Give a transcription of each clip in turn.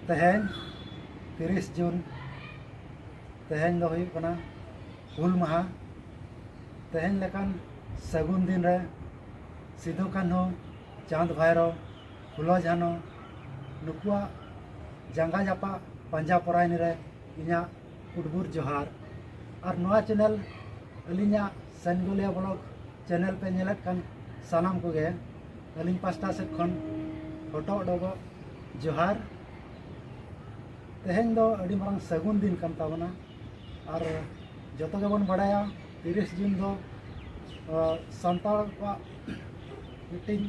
ᱛᱮᱦᱮᱧ ᱛᱤᱨᱤᱥ ᱡᱩᱱ ᱛᱮᱦᱮᱧ ᱫᱚ ᱦᱩᱭᱩᱜ ᱠᱟᱱᱟ ᱦᱩᱞ ᱢᱟᱦᱟ ᱛᱮᱦᱮᱧ ᱞᱮᱠᱟᱱ ᱥᱟᱹᱜᱩᱱ ᱫᱤᱱ ᱨᱮ ᱥᱤᱫᱩ ᱠᱟᱹᱱᱦᱩ ᱪᱟᱸᱫᱽ ᱵᱷᱟᱭᱨᱚ ᱯᱷᱩᱞᱚ ᱡᱷᱟᱱᱚ ᱱᱩᱠᱩᱣᱟᱜ ᱡᱟᱸᱜᱟ ᱡᱟᱯᱟᱜ ᱯᱟᱸᱡᱟ ᱯᱚᱨᱟᱭᱱᱤ ᱨᱮ ᱤᱧᱟᱹᱜ ᱩᱫᱽᱜᱩᱨ ᱡᱚᱦᱟᱨ ᱟᱨ ᱱᱚᱣᱟ ᱪᱮᱱᱮᱞ ᱟᱹᱞᱤᱧᱟᱜ ᱥᱟᱱᱜᱳᱞᱤᱭᱟ ᱵᱞᱚᱠ ᱪᱮᱱᱮᱞ ᱯᱮ ᱧᱮᱞᱮᱫ ᱠᱟᱱ ᱥᱟᱱᱟᱢ ᱠᱚᱜᱮ ᱟᱹᱞᱤᱧ ᱯᱟᱥᱴᱟ ᱥᱮᱫ ᱠᱷᱚᱱ ᱦᱚᱴᱚᱜ ᱰᱚᱵᱚᱜ ᱡᱚᱦᱟᱨ ᱛᱮᱦᱮᱧ ᱫᱚ ᱟᱹᱰᱤ ᱢᱟᱨᱟᱝ ᱥᱟᱹᱜᱩᱱ ᱫᱤᱱ ᱠᱟᱱ ᱛᱟᱵᱚᱱᱟ ᱟᱨ ᱡᱚᱛᱚ ᱜᱮᱵᱚᱱ ᱵᱟᱲᱟᱭᱟ ᱛᱤᱨᱤᱥ ᱡᱩᱱ ᱫᱚ ᱥᱟᱱᱛᱟᱲ ᱠᱚᱣᱟᱜ ᱢᱤᱫᱴᱤᱱ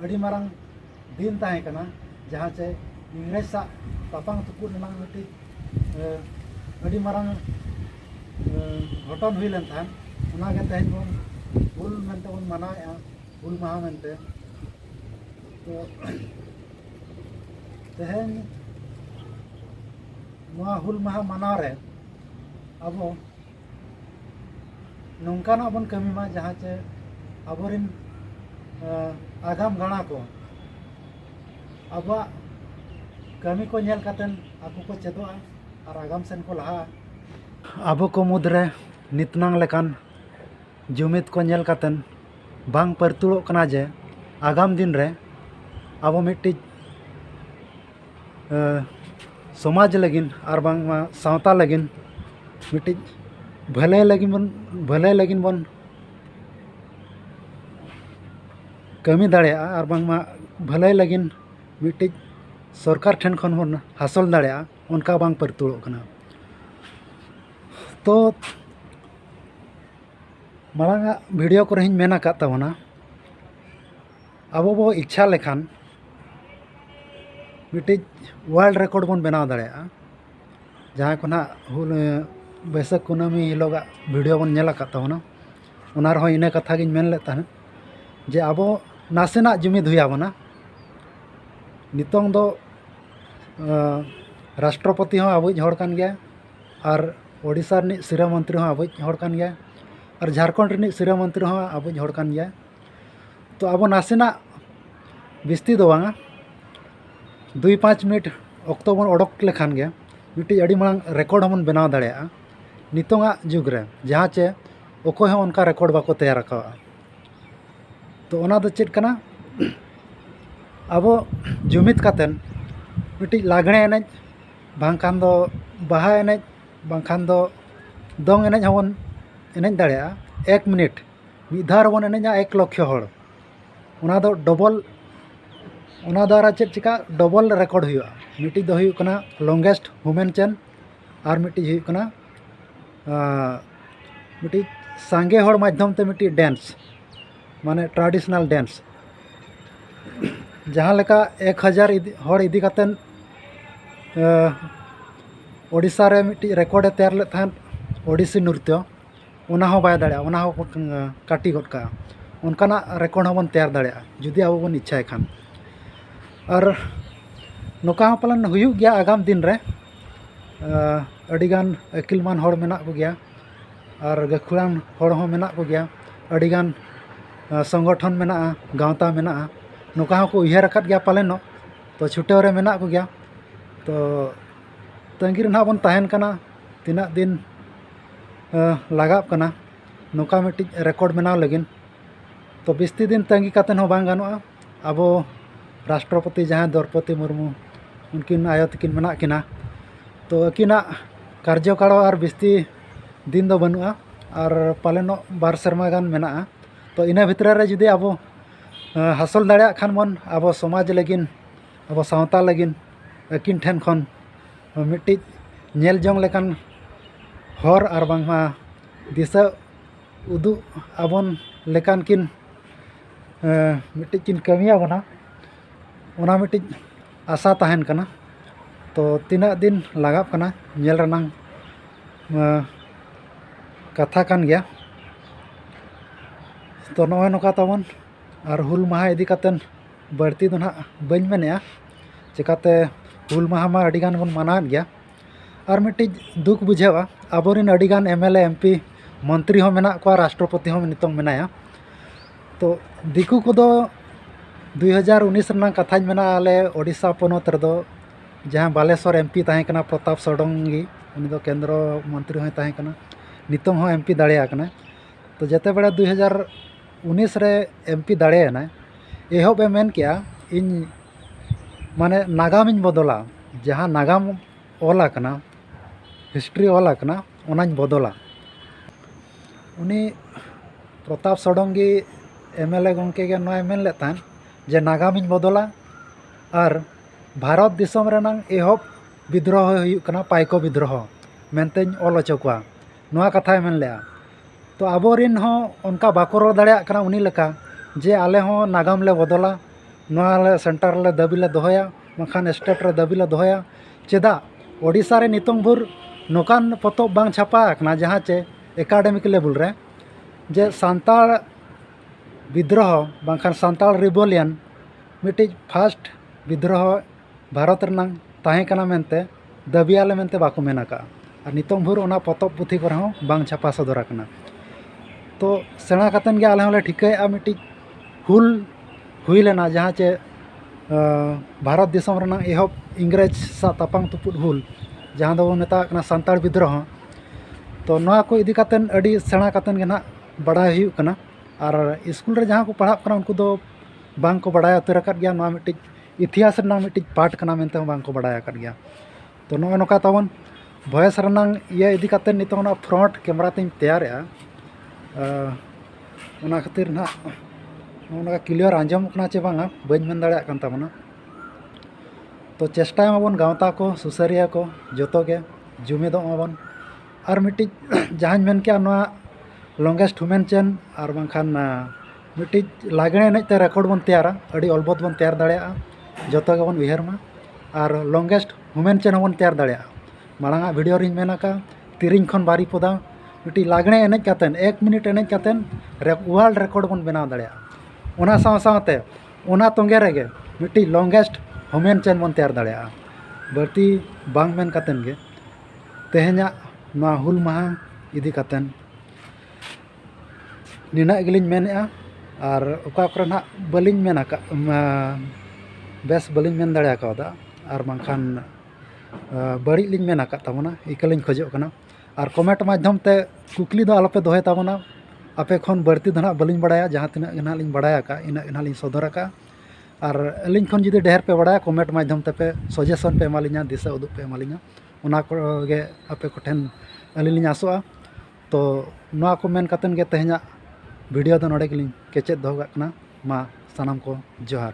ᱟᱹᱰᱤ ᱢᱟᱨᱟᱝ ᱫᱤᱱ ᱛᱟᱦᱮᱸ ᱠᱟᱱᱟ ᱡᱟᱦᱟᱸ ᱪᱮ ᱤᱝᱨᱮᱡᱽ ᱥᱟᱶ ᱛᱟᱯᱟᱢ ᱛᱩᱯᱩᱫ ᱨᱮᱱᱟᱜ ᱢᱤᱫᱴᱤᱡ ᱟᱹᱰᱤ ᱢᱟᱨᱟᱝ ᱜᱷᱚᱴᱚᱱ ᱦᱩᱭ ᱞᱮᱱ ᱛᱟᱦᱮᱸᱫ ᱚᱱᱟᱜᱮ ᱛᱮᱦᱮᱧ ᱵᱚᱱ ᱦᱩᱞ ᱢᱮᱱᱛᱮ ᱵᱚᱱ ᱢᱟᱱᱟᱣᱮᱫᱼᱟ ᱦᱩᱞ ᱢᱟᱦᱟ ᱢᱮᱱᱛᱮ ᱛᱚ ᱛᱮᱦᱮᱧ ᱱᱚᱣᱟ ᱦᱩᱞ ᱢᱟᱦᱟ ᱢᱟᱱᱟᱣ ᱨᱮ ᱟᱵᱚ ᱱᱚᱝᱠᱟᱱᱟᱜ ᱵᱚᱱ ᱠᱟᱹᱢᱤ ᱢᱟ ᱡᱟᱦᱟᱸ ᱪᱮ ᱟᱵᱚᱨᱮᱱ ᱟᱜᱟᱢ ᱜᱟᱬᱟ ᱠᱚ ᱟᱵᱚᱣᱟᱜ ᱠᱟᱹᱢᱤ ᱠᱚ ᱧᱮᱞ ᱠᱟᱛᱮ ᱟᱠᱚ ᱠᱚ ᱪᱮᱫᱚᱜᱼᱟ ᱟᱨ ᱟᱜᱟᱢ ᱥᱮᱱ ᱠᱚ ᱞᱟᱦᱟᱜᱼᱟ ᱟᱵᱚ ᱠᱚ ᱢᱩᱫᱽᱨᱮ ᱱᱤᱛᱱᱟᱝ ᱞᱮᱠᱟᱱ ᱡᱩᱢᱤᱫ ᱠᱚ ᱧᱮᱞ ᱠᱟᱛᱮ ᱵᱟᱝ ᱯᱟᱹᱨᱛᱩᱲᱚᱜ ᱠᱟᱱᱟ ᱡᱮ ᱟᱜᱟᱢ ᱫᱤᱱ ᱨᱮ ᱟᱵᱚ ᱢᱤᱫᱴᱤᱡ ᱥᱚᱢᱟᱡᱽ ᱞᱟᱹᱜᱤᱫ ᱟᱨ ᱵᱟᱝᱢᱟ ᱥᱟᱶᱛᱟ ᱞᱟᱹᱜᱤᱫ ᱢᱤᱫᱴᱤᱡ ᱵᱷᱟᱹᱞᱟᱹᱭ ᱞᱟᱹᱜᱤᱫ ᱵᱚᱱ ᱵᱷᱟᱹᱞᱟᱹᱭ ᱞᱟᱹᱜᱤᱫ ᱵᱚᱱ ᱠᱟᱹᱢᱤ ᱫᱟᱲᱮᱭᱟᱜᱼᱟ ᱟᱨ ᱵᱟᱝᱢᱟ ᱵᱷᱟᱹᱞᱟᱹᱭ ᱞᱟᱹᱜᱤᱫ ᱢᱤᱫᱴᱤᱡ ᱥᱚᱨᱠᱟᱨ ᱴᱷᱮᱱ ᱠᱷᱚᱱ ᱵᱚᱱ ᱦᱟᱥᱚᱞ ᱫᱟᱲᱮᱭᱟᱜᱼᱟ ᱚᱱᱠᱟ ᱵᱟᱝ ᱯᱟᱹᱨᱛᱩᱣᱟᱹᱜ ᱠᱟᱱᱟ ᱛᱚ ᱢᱟᱲᱟᱝ ᱟᱜ ᱵᱷᱤᱰᱤᱭᱳ ᱠᱚᱨᱮ ᱦᱚᱸᱧ ᱢᱮᱱ ᱟᱠᱟᱫ ᱛᱟᱵᱚᱱᱟ ᱟᱵᱚ ᱵᱚᱱ ᱤᱪᱪᱷᱟ ᱞᱮᱠᱷᱟᱱ ᱢᱤᱫᱴᱤᱡ ᱚᱣᱟᱨᱞᱰ ᱨᱮᱠᱚᱨᱰ ᱵᱚᱱ ᱵᱮᱱᱟᱣ ᱫᱟᱲᱮᱭᱟᱜᱼᱟ ᱡᱟᱦᱟᱸᱭ ᱠᱚ ᱦᱟᱸᱜ ᱦᱩᱞ ᱵᱟᱹᱭᱥᱟᱹᱠᱷ ᱠᱩᱱᱟᱹᱢᱤ ᱦᱤᱞᱳᱜ ᱟᱜ ᱵᱷᱤᱰᱭᱳ ᱵᱚᱱ ᱧᱮᱞ ᱟᱠᱟᱫ ᱛᱟᱵᱚᱱᱟ ᱚᱱᱟ ᱨᱮᱦᱚᱸ ᱤᱱᱟᱹ ᱠᱟᱛᱷᱟ ᱜᱤᱧ ᱢᱮᱱ ᱞᱮᱫ ᱛᱟᱦᱮᱸᱫ ᱡᱮ ᱟᱵᱚ ᱱᱟᱥᱮᱱᱟᱜ ᱡᱩᱢᱤᱫ ᱦᱩᱭ ᱟᱵᱚᱱᱟ ᱱᱤᱛᱚᱝ ᱫᱚ ᱨᱟᱥᱴᱨᱚᱯᱚᱛᱤ ᱦᱚᱸ ᱟᱵᱚᱭᱤᱡ ᱦᱚᱲ ᱠᱟᱱ ᱜᱮᱭᱟᱭ ᱟᱨ ᱳᱰᱤᱥᱟ ᱨᱤᱱᱤᱡ ᱥᱤᱨᱟᱹ ᱢᱚᱱᱛᱨᱤ ᱦᱚᱸ ᱟᱵᱚᱭᱤᱡ ᱦᱚᱲ ᱠᱟᱱ ᱜᱮᱭᱟᱭ ᱟᱨ ᱡᱷᱟᱲᱠᱷᱚᱸᱰ ᱨᱤᱱᱤᱡ ᱥᱤᱨᱟᱹ ᱢᱚᱱᱛᱨᱤ ᱦᱚᱸ ᱟᱵᱚᱭᱤᱡ ᱦᱚᱲ ᱠᱟᱱ ᱜᱮᱭᱟᱭ ᱛᱚ ᱟᱵᱚ ᱱᱟᱥᱮᱱᱟᱜ ᱵᱤᱥᱛᱤ ᱫᱚ ᱵᱟᱝᱟ ᱫᱩᱭ ᱯᱟᱸᱪ ᱢᱤᱱᱤᱴ ᱚᱠᱛᱚ ᱵᱚᱱ ᱚᱰᱚᱠ ᱞᱮᱠᱷᱟᱱ ᱜᱮ ᱢᱤᱫᱴᱤᱡ ᱟᱹᱰᱤ ᱢᱟᱨᱟᱝ ᱨᱮᱠᱚᱨᱰ ᱦᱚᱸᱵᱚᱱ ᱵᱮᱱᱟᱣ ᱫᱟᱲᱮᱭᱟᱜᱼᱟ ᱱᱤᱛᱚᱝ ᱟᱜ ᱡᱩᱜᱽ ᱨᱮ ᱡᱟᱦᱟᱸ ᱪᱮ ᱚᱠᱚᱭ ᱦᱚᱸ ᱚᱱᱠᱟ ᱨᱮᱠᱚᱨᱰ ᱵᱟᱠᱚ ᱛᱮᱭᱟᱨ ᱠᱟᱜᱼᱟ ᱛᱚ ᱚᱱᱟ ᱫᱚ ᱪᱮᱫ ᱠᱟᱱᱟ ᱟᱵᱚ ᱡᱩᱢᱤᱫ ᱠᱟᱛᱮ ᱢᱤᱫᱴᱤᱡ ᱞᱟᱜᱽᱬᱮ ᱮᱱᱮᱡ ᱵᱟᱝᱠᱷᱟᱱ ᱫᱚ ᱵᱟᱦᱟ ᱮᱱᱮᱡ ᱵᱟᱝᱠᱷᱟᱱ ᱫᱚ ᱫᱚᱝ ᱮᱱᱮᱡ ᱦᱚᱸᱵᱚᱱ ᱮᱱᱮᱡ ᱫᱟᱲᱮᱭᱟᱜᱼᱟ ᱮᱠ ᱢᱤᱱᱤᱴ ᱢᱤᱫ ᱫᱷᱟᱣ ᱨᱮᱵᱚᱱ ᱮᱱᱮᱡᱟ ᱮᱠ ᱞᱚᱠᱠᱷᱚ ᱦᱚᱲ ᱚᱱᱟ ᱫᱚ ᱰᱚᱵᱚᱞ ᱚᱱᱟ ᱫᱚᱣᱟᱨᱟ ᱪᱮᱫ ᱪᱤᱠᱟᱹᱜᱼᱟ ᱰᱚᱵᱚᱞ ᱨᱮᱠᱚᱨᱰ ᱦᱩᱭᱩᱜᱼᱟ ᱢᱤᱫᱴᱤᱡ ᱫᱚ ᱦᱩᱭᱩᱜ ᱠᱟᱱᱟ ᱞᱚᱝᱜᱮᱥᱴ ᱦᱤᱭᱩᱢᱮᱱ ᱪᱮᱱ ᱟᱨ ᱢᱤᱫᱴᱤᱡ ᱦᱩᱭᱩᱜ ᱠᱟᱱᱟ ᱢᱤᱫᱴᱤᱡ ᱥᱟᱸᱜᱮ ᱦᱚᱲ ᱢᱟᱫᱽᱫᱷᱚᱢ ᱛᱮ ᱢᱤᱫᱴᱤᱡ ᱰᱮᱱᱥ ᱢᱟᱱᱮ ᱴᱨᱟᱰᱤᱥᱚᱱᱟᱞ ᱰᱮᱱᱥ ᱡᱟᱦᱟᱸ ᱞᱮᱠᱟ ᱮᱠ ᱦᱟᱡᱟᱨ ᱦᱚᱲ ᱤᱫᱤ ᱠᱟᱛᱮᱫ ᱳᱰᱤᱥᱟ ᱨᱮ ᱢᱤᱫᱴᱤᱡ ᱨᱮᱠᱚᱨᱰ ᱮ ᱛᱮᱭᱟᱨ ᱞᱮᱫ ᱛᱟᱦᱮᱸᱫ ᱳᱰᱤᱥᱤ ᱱᱨᱤᱛᱛᱚ ᱚᱱᱟ ᱦᱚᱸ ᱵᱟᱭ ᱫᱟᱲᱮᱭᱟᱜᱼᱟ ᱚᱱᱟ ᱦᱚᱸ ᱠᱟᱹᱴᱤ ᱜᱚᱫ ᱠᱟᱜᱼᱟ ᱚᱱᱠᱟᱱᱟᱜ ᱨᱮᱠᱚᱨᱰ ᱦᱚᱸ ᱵᱚᱱ ᱛᱮᱭᱟᱨ ᱫᱟᱲᱮᱭᱟᱜᱼᱟ ᱡᱩᱫᱤ ᱟᱵᱚ ᱵᱚᱱ ᱤᱪᱪᱷᱟᱭ ᱠᱷᱟᱱ ᱟᱨ ᱱᱚᱝᱠᱟ ᱦᱚᱸ ᱯᱟᱞᱮᱱ ᱦᱩᱭᱩᱜ ᱜᱮᱭᱟ ᱟᱜᱟᱢ ᱫᱤᱱ ᱨᱮ ᱟᱹᱰᱤ ᱜᱟᱱ ᱟᱹᱠᱤᱞᱢᱟᱱ ᱦᱚᱲ ᱢᱮᱱᱟᱜ ᱠᱚᱜᱮᱭᱟ ᱟᱨ ᱜᱟᱹᱠᱷᱩᱲᱟᱱ ᱦᱚᱲ ᱦᱚᱸ ᱢᱮᱱᱟᱜ ᱠᱚᱜᱮᱭᱟ ᱟᱹᱰᱤ ᱜᱟᱱ ᱥᱚᱝᱜᱚᱴᱷᱚᱱ ᱢᱮᱱᱟᱜᱼᱟ ᱜᱟᱶᱛᱟ ᱢᱮᱱᱟᱜᱼᱟ ᱱᱚᱝᱠᱟ ᱦᱚᱸ ᱠᱚ ᱩᱭᱦᱟᱹᱨ ᱟᱠᱟᱫ ᱜᱮᱭᱟ ᱯᱟᱞᱮᱱᱚᱜ ᱛᱚ ᱪᱷᱩᱴᱟᱹᱣ ᱨᱮ ᱢᱮᱱᱟᱜ ᱠᱚᱜᱮᱭᱟ ᱛᱚ ᱛᱟᱹᱜᱤ ᱨᱮ ᱦᱟᱸᱜ ᱵᱚᱱ ᱛᱟᱦᱮᱱ ᱠᱟᱱᱟ ᱛᱤᱱᱟᱹᱜ ᱫᱤᱱ ᱞᱟᱜᱟᱜ ᱠᱟᱱᱟ ᱱᱚᱝᱠᱟ ᱢᱤᱫᱴᱤᱡ ᱨᱮᱠᱚᱨᱰ ᱵᱮᱱᱟᱣ ᱞᱟᱹᱜᱤᱫ ᱛᱚ ᱵᱤᱥᱛᱤ ᱫᱤᱱ ᱛᱟᱺᱜᱤ ᱠᱟᱛᱮᱫ ᱦᱚᱸ ᱵᱟᱝ ᱜᱟᱱᱚᱜᱼᱟ ᱟᱵᱚ ᱨᱟᱥᱴᱨᱚᱯᱚᱛᱤ ᱡᱟᱦᱟᱸᱭ ᱫᱨᱳᱣᱯᱚᱫᱤ ᱢᱩᱨᱢᱩ ᱩᱱᱠᱤᱱ ᱟᱭᱳ ᱛᱟᱹᱠᱤᱱ ᱢᱮᱱᱟᱜ ᱠᱤᱱᱟ ᱛᱚ ᱟᱹᱠᱤᱱᱟᱜ ᱠᱟᱨᱡᱚ ᱠᱟᱞᱚᱢ ᱟᱨ ᱵᱤᱥᱛᱤ ᱫᱤᱱ ᱫᱚ ᱵᱟᱹᱱᱩᱜᱼᱟ ᱟᱨ ᱯᱟᱞᱮᱱᱚᱜ ᱵᱟᱨ ᱥᱮᱨᱢᱟ ᱜᱟᱱ ᱢᱮᱱᱟᱜᱼᱟ ᱛᱚ ᱤᱱᱟᱹ ᱵᱷᱤᱛᱨᱤ ᱨᱮ ᱡᱩᱫᱤ ᱟᱵᱚ ᱦᱟᱥᱤᱞ ᱫᱟᱲᱮᱭᱟᱜ ᱠᱷᱟᱱ ᱵᱚᱱ ᱟᱵᱚ ᱥᱚᱢᱟᱡᱽ ᱞᱟᱹᱜᱤᱫ ᱟᱵᱚ ᱥᱟᱶᱛᱟ ᱞᱟᱹᱜᱤᱫ ᱟᱹᱠᱤᱱ ᱴᱷᱮᱱ ᱠᱷᱚᱱ ᱢᱤᱫᱴᱤᱡ ᱧᱮᱞ ᱡᱚᱝ ᱞᱮᱠᱟᱱ ᱦᱚᱨ ᱟᱨ ᱵᱟᱝᱢᱟ ᱫᱤᱥᱟᱹ ᱩᱫᱩᱜ ᱟᱵᱚᱱ ᱞᱮᱠᱟᱱ ᱠᱤᱱ ᱢᱤᱫᱴᱤᱡ ᱠᱤᱱ ᱠᱟᱹᱢᱤ ᱟᱵᱚᱱᱟ ᱚᱱᱟ ᱢᱤᱫᱴᱤᱡ ᱟᱥᱟ ᱛᱟᱦᱮᱱ ᱠᱟᱱᱟ ᱛᱚ ᱛᱤᱱᱟᱹᱜ ᱫᱤᱱ ᱞᱟᱜᱟᱜ ᱠᱟᱱᱟ ᱧᱮᱞ ᱨᱮᱱᱟᱜ ᱠᱟᱛᱷᱟ ᱠᱟᱱ ᱜᱮᱭᱟ ᱛᱚ ᱱᱚᱜᱼᱚᱸᱭ ᱱᱚᱝᱠᱟ ᱛᱟᱵᱚᱱ ᱟᱨ ᱦᱩᱞ ᱢᱟᱦᱟ ᱤᱫᱤ ᱠᱟᱛᱮᱫ ᱵᱟᱹᱲᱛᱤ ᱫᱚ ᱱᱟᱦᱟᱜ ᱵᱟᱹᱧ ᱢᱮᱱᱮᱜᱼᱟ ᱪᱤᱠᱟᱹᱛᱮ ᱦᱩᱞ ᱢᱟᱦᱟ ᱢᱟ ᱟᱹᱰᱤ ᱜᱟᱱ ᱵᱚᱱ ᱢᱟᱱᱟᱣᱮᱫ ᱜᱮᱭᱟ ᱟᱨ ᱢᱤᱫᱴᱤᱡ ᱫᱩᱠ ᱵᱩᱡᱷᱟᱹᱜᱼᱟ ᱟᱵᱚ ᱨᱮᱱ ᱟᱹᱰᱤ ᱜᱟᱱ M L A M P ᱢᱚᱱᱛᱨᱤ ᱦᱚᱸ ᱢᱮᱱᱟᱜ ᱠᱚᱣᱟ ᱨᱟᱥᱴᱨᱚᱯᱚᱛᱤ ᱦᱚᱸ ᱱᱤᱛᱚᱜ ᱢᱮᱱᱟᱭᱟ ᱛᱚ ᱫᱤᱠᱩ ᱠᱚᱫᱚ ᱫᱩᱭ ᱦᱟᱡᱟᱨ ᱩᱱᱤᱥ ᱨᱮᱱᱟᱜ ᱠᱟᱛᱷᱟᱧ ᱢᱮᱱᱟ ᱟᱞᱮ ᱳᱰᱤᱥᱟ ᱯᱚᱱᱚᱛ ᱨᱮᱫᱚ ᱡᱟᱦᱟᱸ ᱵᱟᱞᱮᱥᱥᱚᱨ ᱮᱢ ᱯᱤ ᱛᱟᱦᱮᱸ ᱠᱟᱱᱟ ᱯᱨᱚᱛᱟᱯ ᱥᱚᱰᱚᱝᱜᱤ ᱩᱱᱤ ᱫᱚ ᱠᱮᱱᱫᱨᱚ ᱢᱚᱱᱛᱨᱤ ᱦᱚᱸᱭ ᱛᱟᱦᱮᱸ ᱠᱟᱱᱟ ᱱᱤᱛᱚᱜ ᱦᱚᱸ ᱮᱢ ᱯᱤ ᱫᱟᱲᱮᱭᱟᱜ ᱠᱟᱱᱟᱭ ᱛᱚ ᱡᱮᱛᱮ ᱵᱟᱲᱮ ᱫᱩ ᱦᱟᱡᱟᱨ ᱩᱱᱤᱥ ᱨᱮ ᱮᱢ ᱯᱤ ᱫᱟᱲᱮᱭᱮᱱᱟᱭ ᱮᱦᱚᱵ ᱮ ᱢᱮᱱ ᱠᱮᱜᱼᱟ ᱤᱧ ᱢᱟᱱᱮ ᱱᱟᱜᱟᱢ ᱤᱧ ᱵᱚᱫᱚᱞᱟ ᱡᱟᱦᱟᱸ ᱱᱟᱜᱟᱢ ᱚᱞ ᱟᱠᱟᱱᱟ ᱦᱤᱥᱴᱨᱤ ᱚᱞ ᱟᱠᱟᱱᱟ ᱚᱱᱟᱧ ᱵᱚᱫᱚᱞᱟ ᱩᱱᱤ ᱯᱨᱚᱛᱟᱯ ᱥᱚᱰᱚᱝᱜᱤ ᱮᱢ ᱮᱞ ᱮ ᱜᱚᱢᱠᱮ ᱜᱮ ᱱᱚᱣᱟᱭ ᱢᱮᱱ ᱞᱮᱫ ᱛᱟᱦᱮᱸᱫ ᱡᱮ ᱱᱟᱜᱟᱢ ᱤᱧ ᱵᱚᱫᱚᱞᱟ ᱟᱨ ᱵᱷᱟᱨᱚᱛ ᱫᱤᱥᱚᱢ ᱨᱮᱱᱟᱝ ᱮᱦᱚᱵ ᱵᱤᱫᱽᱫᱨᱳᱦᱚ ᱦᱩᱭᱩᱜ ᱠᱟᱱᱟ ᱯᱟᱭᱠᱚ ᱵᱤᱫᱽᱫᱨᱳᱦᱚ ᱢᱮᱱᱛᱮᱧ ᱚᱞ ᱦᱚᱪᱚ ᱠᱚᱣᱟ ᱱᱚᱣᱟ ᱠᱟᱛᱷᱟᱭ ᱢᱮᱱ ᱞᱮᱫᱼᱟ ᱛᱚ ᱟᱵᱚ ᱨᱮᱱ ᱦᱚᱸ ᱚᱱᱠᱟ ᱵᱟᱠᱚ ᱨᱚᱲ ᱫᱟᱲᱮᱭᱟᱜ ᱠᱟᱱᱟ ᱩᱱᱤ ᱞᱮᱠᱟ ᱡᱮ ᱟᱞᱮ ᱦᱚᱸ ᱱᱟᱜᱟᱢ ᱞᱮ ᱵᱚᱫᱚᱞᱟ ᱱᱚᱣᱟ ᱞᱮ ᱥᱮᱱᱴᱟᱨ ᱨᱮᱞᱮ ᱫᱟᱹᱵᱤ ᱞᱮ ᱫᱚᱦᱚᱭᱟ ᱵᱟᱝᱠᱷᱟᱱ ᱥᱴᱮᱴ ᱨᱮ ᱫᱟᱹᱵᱤ ᱞᱮ ᱫᱚᱦᱚᱭᱟ ᱪᱮᱫᱟᱜ ᱳᱰᱤᱥᱟ ᱨᱮ ᱱᱤᱛᱚᱝ ᱵᱷᱳᱨ ᱱᱚᱝᱠᱟᱱ ᱯᱚᱛᱚᱵ ᱵᱟᱝ ᱪᱷᱟᱯᱟ ᱟᱠᱟᱱᱟ ᱡᱟᱦᱟᱸ ᱪᱮ ᱮᱠᱟᱰᱮᱢᱤᱠ ᱞᱮᱵᱮᱞ ᱨᱮ ᱡᱮ ᱥᱟᱱᱛᱟᱲ ᱵᱤᱫᱽᱫᱨᱳᱦᱚ ᱵᱟᱝᱠᱷᱟᱱ ᱥᱟᱱᱛᱟᱲ ᱨᱤᱵᱷᱳᱞᱤᱭᱚᱱ ᱢᱤᱫᱴᱤᱡ ᱯᱷᱟᱥᱴ ᱵᱤᱫᱽᱫᱨᱳᱦᱚ ᱵᱷᱟᱨᱚᱛ ᱨᱮᱱᱟᱝ ᱛᱟᱦᱮᱸ ᱠᱟᱱᱟ ᱢᱮᱱᱛᱮ ᱫᱟᱹᱵᱤᱭᱟᱞᱮ ᱢᱮᱱᱛᱮ ᱵᱟᱠᱚ ᱢᱮᱱ ᱟᱠᱟᱫᱼᱟ ᱟᱨ ᱱᱤᱛᱚᱝ ᱵᱷᱳᱨ ᱚᱱᱟ ᱯᱚᱛᱚᱵ ᱯᱩᱛᱷᱤ ᱠᱚᱨᱮ ᱦᱚᱸ ᱵᱟᱝ ᱪᱷᱟᱯᱟ ᱥᱚᱫᱚᱨ ᱟᱠᱟᱱᱟ ᱛᱚ ᱥᱮᱬᱟ ᱠᱟᱛᱮᱫ ᱜᱮ ᱟᱞᱮ ᱦᱚᱸᱞᱮ ᱴᱷᱤᱠᱟᱹᱭᱮᱫᱼᱟ ᱢᱤᱫᱴᱤᱡ ᱦᱩᱞ ᱦᱩᱭ ᱞᱮᱱᱟ ᱡᱟᱦᱟᱸ ᱪᱮ ᱵᱷᱟᱨᱚᱛ ᱫᱤᱥᱚᱢ ᱨᱮᱱᱟᱜ ᱮᱦᱚᱵ ᱤᱝᱨᱮᱡᱽ ᱥᱟᱶ ᱛᱟᱯᱟᱢ ᱛᱩᱯᱩᱫ ᱦᱩᱞ ᱡᱟᱦᱟᱸ ᱫᱚᱵᱚᱱ ᱢᱮᱛᱟᱣᱟᱜ ᱠᱟᱱᱟ ᱥᱟᱱᱛᱟᱲ ᱵᱤᱫᱽᱫᱨᱳᱦᱚ ᱛᱚ ᱱᱚᱣᱟ ᱠᱚ ᱤᱫᱤ ᱠᱟᱛᱮᱫ ᱟᱹᱰᱤ ᱥᱮᱬᱟ ᱠᱟᱛᱮᱫ ᱜᱮ ᱦᱟᱸᱜ ᱵᱟᱲᱟᱭ ᱦᱩᱭᱩᱜ ᱠᱟᱱᱟ ᱟᱨ ᱥᱠᱩᱞ ᱨᱮ ᱡᱟᱦᱟᱸᱭ ᱠᱚ ᱯᱟᱲᱦᱟᱜ ᱠᱟᱱᱟ ᱩᱱᱠᱩ ᱫᱚ ᱵᱟᱝ ᱠᱚ ᱵᱟᱲᱟᱭ ᱩᱛᱟᱹᱨ ᱟᱠᱟᱫ ᱜᱮᱭᱟ ᱱᱚᱣᱟ ᱢᱤᱫᱴᱤᱡ ᱤᱛᱤᱦᱟᱥ ᱨᱮᱱᱟᱜ ᱢᱤᱫᱴᱤᱡ ᱯᱟᱨᱴ ᱠᱟᱱᱟ ᱢᱮᱱᱛᱮ ᱦᱚᱸ ᱵᱟᱝ ᱠᱚ ᱵᱟᱲᱟᱭ ᱟᱠᱟᱫ ᱜᱮᱭᱟ ᱛᱚ ᱱᱚᱜᱼᱚᱸᱭ ᱱᱚᱝᱠᱟ ᱛᱟᱵᱚᱱ ᱵᱚᱭᱮᱥ ᱨᱮᱱᱟᱜ ᱤᱭᱟᱹ ᱤᱫᱤ ᱠᱟᱛᱮᱫ ᱱᱤᱛᱚᱜ ᱚᱱᱟ ᱯᱷᱨᱚᱱᱴ ᱠᱮᱢᱮᱨᱟ ᱛᱤᱧ ᱛᱮᱭᱟᱨᱮᱜᱼᱟ ᱚᱱᱟ ᱠᱷᱟᱹᱛᱤᱨ ᱦᱟᱸᱜ ᱱᱚᱜᱼᱚᱸᱭ ᱱᱚᱝᱠᱟ ᱠᱞᱤᱭᱟᱨ ᱟᱸᱡᱚᱢᱚᱜ ᱠᱟᱱᱟ ᱪᱮ ᱵᱟᱝᱟ ᱵᱟᱹᱧ ᱢᱮᱱ ᱫᱟᱲᱮᱭᱟᱜ ᱠᱟᱱ ᱛᱟᱵᱚᱱᱟ ᱛᱚ ᱪᱮᱥᱴᱟᱭ ᱢᱟᱵᱚᱱ ᱜᱟᱶᱛᱟ ᱠᱚ ᱥᱩᱥᱟᱹᱨᱤᱭᱟᱹ ᱠᱚ ᱡᱚᱛᱚ ᱜᱮ ᱡᱩᱢᱤᱫᱚᱜ ᱢᱟᱵᱚᱱ ᱟᱨ ᱢᱤᱫᱴᱤᱡ ᱡᱟᱦᱟᱧ ᱢᱮᱱ ᱠᱮᱜᱼᱟ ᱱᱚᱣᱟ ᱞᱚᱝᱜᱮᱥᱴ ᱦᱤᱭᱩᱢᱮᱱ ᱪᱮᱱ ᱟᱨ ᱵᱟᱝᱠᱷᱟᱱ ᱢᱤᱫᱴᱤᱡ ᱞᱟᱜᱽᱬᱮ ᱮᱱᱮᱡ ᱛᱮ ᱨᱮᱠᱚᱨᱰ ᱵᱚᱱ ᱛᱮᱭᱟᱨᱟ ᱟᱹᱰᱤ ᱚᱞᱜᱚᱥ ᱵᱚᱱ ᱛᱮᱭᱟᱨ ᱫᱟᱲᱮᱭᱟᱜᱼᱟ ᱡᱚᱛᱚ ᱜᱮᱵᱚᱱ ᱩᱭᱦᱟᱹᱨ ᱢᱟ ᱟᱨ ᱞᱚᱝᱜᱮᱥᱴ ᱦᱤᱭᱩᱢᱮᱱ ᱪᱮᱱ ᱦᱚᱸᱵᱚᱱ ᱛᱮᱭᱟᱨ ᱫᱟᱲᱮᱭᱟᱜᱼᱟ ᱢᱟᱲᱟᱝ ᱟᱜ ᱵᱷᱤᱰᱭᱳ ᱨᱮᱧ ᱢᱮᱱ ᱟᱠᱟᱫᱼᱟ ᱛᱤᱨᱤᱝ ᱠᱷᱚᱱ ᱵᱟᱨᱤᱯᱟᱫᱟ ᱢᱤᱫᱴᱤᱡ ᱞᱟᱜᱽᱬᱮ ᱮᱱᱮᱡ ᱠᱟᱛᱮᱫ ᱮᱠ ᱢᱤᱱᱤᱴ ᱮᱱᱮᱡ ᱠᱟᱛᱮᱫ ᱚᱣᱟᱨᱞᱰ ᱨᱮᱠᱚᱨᱰ ᱵᱚᱱ ᱵᱮᱱᱟᱣ ᱫᱟᱲᱮᱭᱟᱜᱼᱟ ᱚᱱᱟ ᱥᱟᱶ ᱥᱟᱶᱛᱮ ᱚᱱᱟ ᱛᱚᱸᱜᱮ ᱨᱮᱜᱮ ᱢᱤᱫᱴᱤᱡ ᱞᱚᱝᱜᱮᱥᱴ ᱦᱤᱭᱩᱢᱮᱱ ᱪᱮᱱ ᱵᱚᱱ ᱛᱮᱭᱟᱨ ᱫᱟᱲᱮᱭᱟᱜᱼᱟ ᱵᱟᱹᱲᱛᱤ ᱵᱟᱝ ᱢᱮᱱ ᱠᱟᱛᱮᱫ ᱜᱮ ᱛᱮᱦᱮᱧᱟᱜ ᱱᱚᱣᱟ ᱦᱩᱞ ᱢᱟᱦᱟ ᱤᱫᱤ ᱠᱟᱛᱮᱫ ᱱᱤᱱᱟᱹᱜ ᱜᱮᱞᱤᱧ ᱢᱮᱱᱮᱜᱼᱟ ᱟᱨ ᱚᱠᱟ ᱠᱚᱨᱮ ᱱᱟᱦᱟᱜ ᱵᱟᱹᱞᱤᱧ ᱢᱮᱱ ᱟᱠᱟᱫ ᱵᱮᱥ ᱵᱟᱹᱞᱤᱧ ᱢᱮᱱ ᱫᱟᱲᱮ ᱠᱟᱣᱫᱟ ᱟᱨ ᱵᱟᱝᱠᱷᱟᱱ ᱵᱟᱹᱲᱤᱡ ᱞᱤᱧ ᱢᱮᱱ ᱟᱠᱟᱫ ᱛᱟᱵᱚᱱᱟ ᱤᱠᱟᱹ ᱞᱤᱧ ᱠᱷᱚᱡᱚᱜ ᱠᱟᱱᱟ ᱟᱨ ᱠᱚᱢᱮᱱᱴ ᱢᱟᱫᱽᱫᱷᱚᱢ ᱛᱮ ᱠᱩᱠᱞᱤ ᱫᱚ ᱟᱞᱚᱯᱮ ᱫᱚᱦᱚᱭ ᱛᱟᱵᱚᱱᱟ ᱟᱯᱮ ᱠᱷᱚᱱ ᱵᱟᱹᱲᱛᱤ ᱫᱚ ᱱᱟᱦᱟᱜ ᱵᱟᱹᱞᱤᱧ ᱵᱟᱲᱟᱭᱟ ᱡᱟᱦᱟᱸ ᱛᱤᱱᱟᱹᱜ ᱜᱮ ᱱᱟᱦᱟᱜ ᱞᱤᱧ ᱵᱟᱲᱟᱭ ᱟᱠᱟᱫ ᱤᱱᱟᱹᱜ ᱜᱮ ᱱᱟᱦᱟᱜ ᱞᱤᱧ ᱥᱚᱫᱚᱨ ᱟᱠᱟᱫᱼᱟ ᱟᱨ ᱟᱹᱞᱤᱧ ᱠᱷᱚᱱ ᱡᱩᱫᱤ ᱰᱷᱮᱹᱨ ᱯᱮ ᱵᱟᱲᱟᱭᱟ ᱠᱚᱢᱮᱱᱴ ᱢᱟᱫᱽᱫᱷᱚᱢ ᱛᱮᱯᱮ ᱥᱟᱡᱮᱥᱚᱱ ᱯᱮ ᱮᱢᱟ ᱞᱤᱧᱟ ᱫᱤᱥᱟᱹ ᱩᱫᱩᱜ ᱯᱮ ᱮᱢᱟ ᱞᱤᱧᱟ ᱚᱱᱟ ᱠᱚᱜᱮ ᱟᱯᱮ ᱠᱚᱴᱷᱮᱱ ᱟᱹᱞᱤᱧ ᱞᱤᱧ ᱟᱥᱚᱜᱼᱟ ᱛᱚ ᱱᱚᱣᱟ ᱠᱚ ᱢᱮᱱ ᱠᱟᱛᱮᱫ ᱜᱮ ᱛᱮᱦᱮᱧᱟᱜ ᱵᱷᱤᱰᱤᱭᱳ ᱫᱚ ᱱᱚᱰᱮ ᱜᱮᱞᱤᱧ ᱠᱮᱪᱮᱫ ᱫᱚᱦᱚ ᱠᱟᱜ ᱠᱟᱱᱟ ᱢᱟ ᱥᱟᱱᱟᱢ ᱠᱚ ᱡᱚᱦᱟᱨ